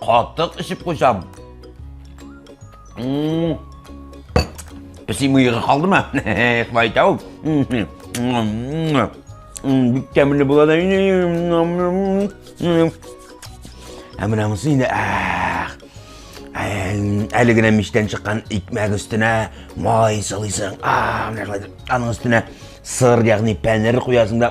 Катык эчеп куйсам. Песи мыйгы калдымы? Шулай итә ул. Бик тәмле була да. Ә менә монысы инде әле генә мичтән чыккан икмәк өстенә май сылыйсың. А, менә шулай. Аның өстенә сыр, ягъни пәнер куясың да.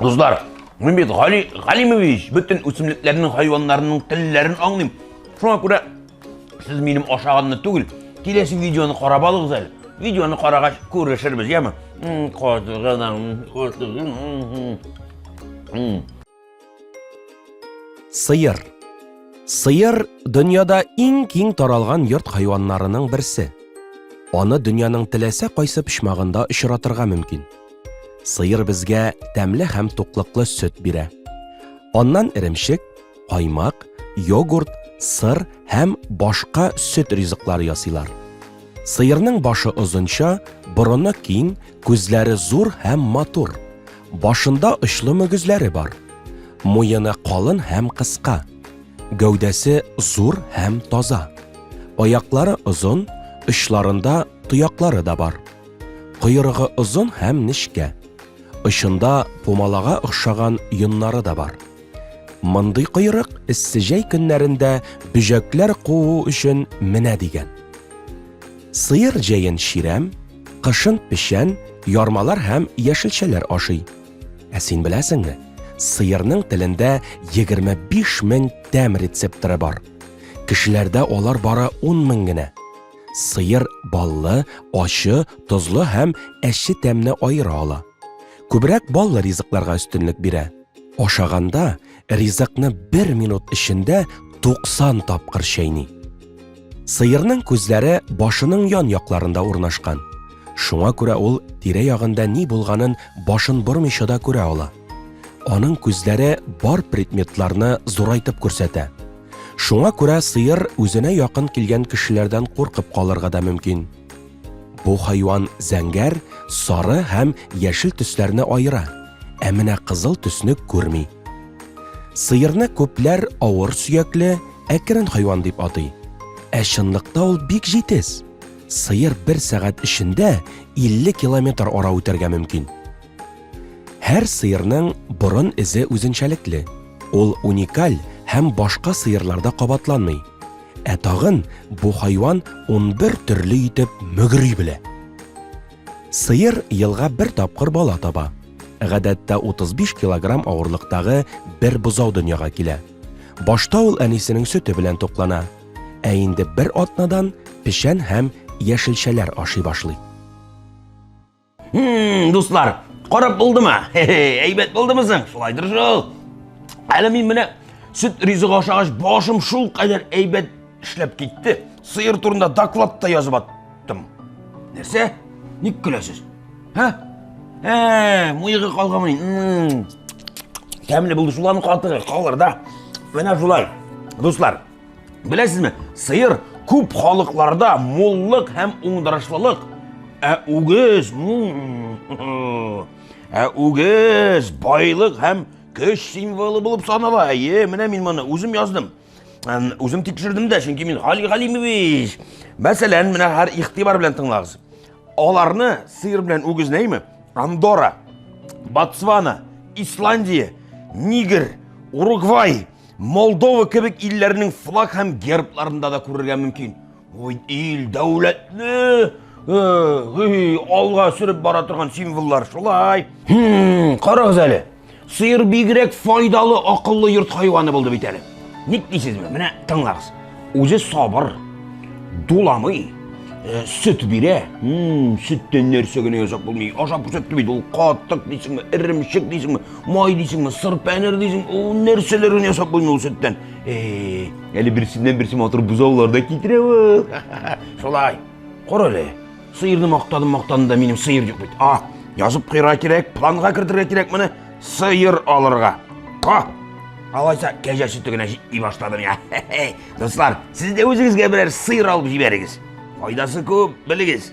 Дуслар, мин бит Гали Галимович, бөтен үсемлекләрнең, хайваннарның телләрен аңлыйм. Шуңа күрә сез минем ашаганны түгел, киләсе видеоны карап алыгыз әле. Видеоны карагач күрешербез, яме? Козгына, козгына. Сыер Сыер дөньяда иң киң таралган йорт хайваннарының берсе. Аны дөньяның теләсә кайсы почмагында очратырга мөмкин. Сыер безгә тәмле һәм туклыклы сөт бирә. Аннан эремчек, каймак, йогурт, сыр һәм башка сөт ризыклары ясыйлар. Сыерның башы озынча, борыны киң, Күзләре зур һәм матур. Башында очлы мөгезләре бар. Муены калын һәм кыска. Гәүдәсе зур һәм таза. Аяклары озын, очларында тояклары да бар. Койрыгы озын һәм нечкә. Очында пумалага охшаган йоннары да бар. Мондый койрык эссе җәй көннәрендә бөҗәкләр куу өчен менә дигән. Сыер җәен чирәм, кышын печән, ярмалар һәм яшелчәләр ашый. Ә син беләсеңме? Сыерның телендә 25 мең тәм рецепторы бар. Кешеләрдә алар бары 10 мең генә. Сыер баллы, ачы, тозлы һәм әче тәмне аера ала. Күбрәк баллы ризыкларга өстенлек бирә. Ашаганда ризыкны бер минут эчендә 90 тапкыр чәйни. Сыерның күзләре башының ян якларында урнашкан. Шуңа күрә ул тирә ягында ни булганын башын бормыйча да күрә ала. Аның күзләре бар предметларны зурайтып күрсәтә. Шуңа күрә сыер үзенә якын килгән кешеләрдән куркып калырга да мөмкин. Бу хайван зәңгәр, сары һәм яшел төсләрне аера, ә менә кызыл төсне күрми. Сыерны күпләр авыр сөякле, әкрен хайван дип атый. Ә чынлыкта ул бик җитез. Сыер бер сәгать эчендә 50 километр ара үтәргә мөмкин. Һәр сыерның борын эзе үзенчәлекле. Ул уникаль һәм башка сыерларда кабатланмый. Ә тагын бу хайван 11 төрле итеп мөгри белә. Сыер елга бер тапкыр бала таба. Гадәттә 35 килограмм авырлыктагы бер бозау дөньяга килә. Башта ул әнисенең сөте белән туклана, ә инде бер атнадан печән һәм яшелчәләр ашый башлый. Хм, дуслар, карап булдымы? Әйбәт булдымы соң? Шулайдыр шул. Әле мин менә сөт ризыгы ашагач башым шул кадәр әйбәт эшләп китте. Сыер турында доклад та язып аттым. Нәрсә? Ник көләсез? Һә? Ә, муйыгы калганмы? Тәмле булды шуларның катыгы, калыр да. Менә шулай. Дуслар, Беләсезме, сыер күп халыкларда муллык һәм уңдырышлылык, ә үгез ә үгез байлык һәм көч символы булып санала. Әйе, менә мин моны үзем яздым. Үзем тикшердем дә, чөнки мин Хали Галимович. Мәсәлән, менә һәр игътибар белән тыңлагыз. Аларны сыер белән үгез нәйме? Андора, Ботсвана, Исландия, Нигер, Уругвай, Молдова кебек илләрнең флаг һәм гербларында да күрергә мөмкин. Ой, ил, дәүләтле, э, алга сөреп бара торган символлар шулай. Хм, карагыз әле. Сыер бигрәк файдалы, акыллы йорт хайваны булды бит әле. Ник дисезме? Менә тыңлагыз. Үзе сабыр, дуламый, э, сөт бирә. Сөттән нәрсә генә ясап булмый. Ашап күрсәтте бит ул катык дисеңме, иремчек дисеңме, май дисеңме, сыр пәнер дисеңме, ул нәрсәләр генә ясап булмый ул сөттән. Эй, әле берсеннән берсе матур бозаулар да китерә ул. Шулай. Кара әле. Сыерны мактадым, мактадым да минем сыер юк бит. А, язып куйырга кирәк, планга кертергә кирәк моны. Сыер алырга. А, алайса кәҗә сөте генә җитми башлады миңа. Дуслар, сез дә үзегезгә берәр сыер алып җибәрегез. Файдасы күп, белегез.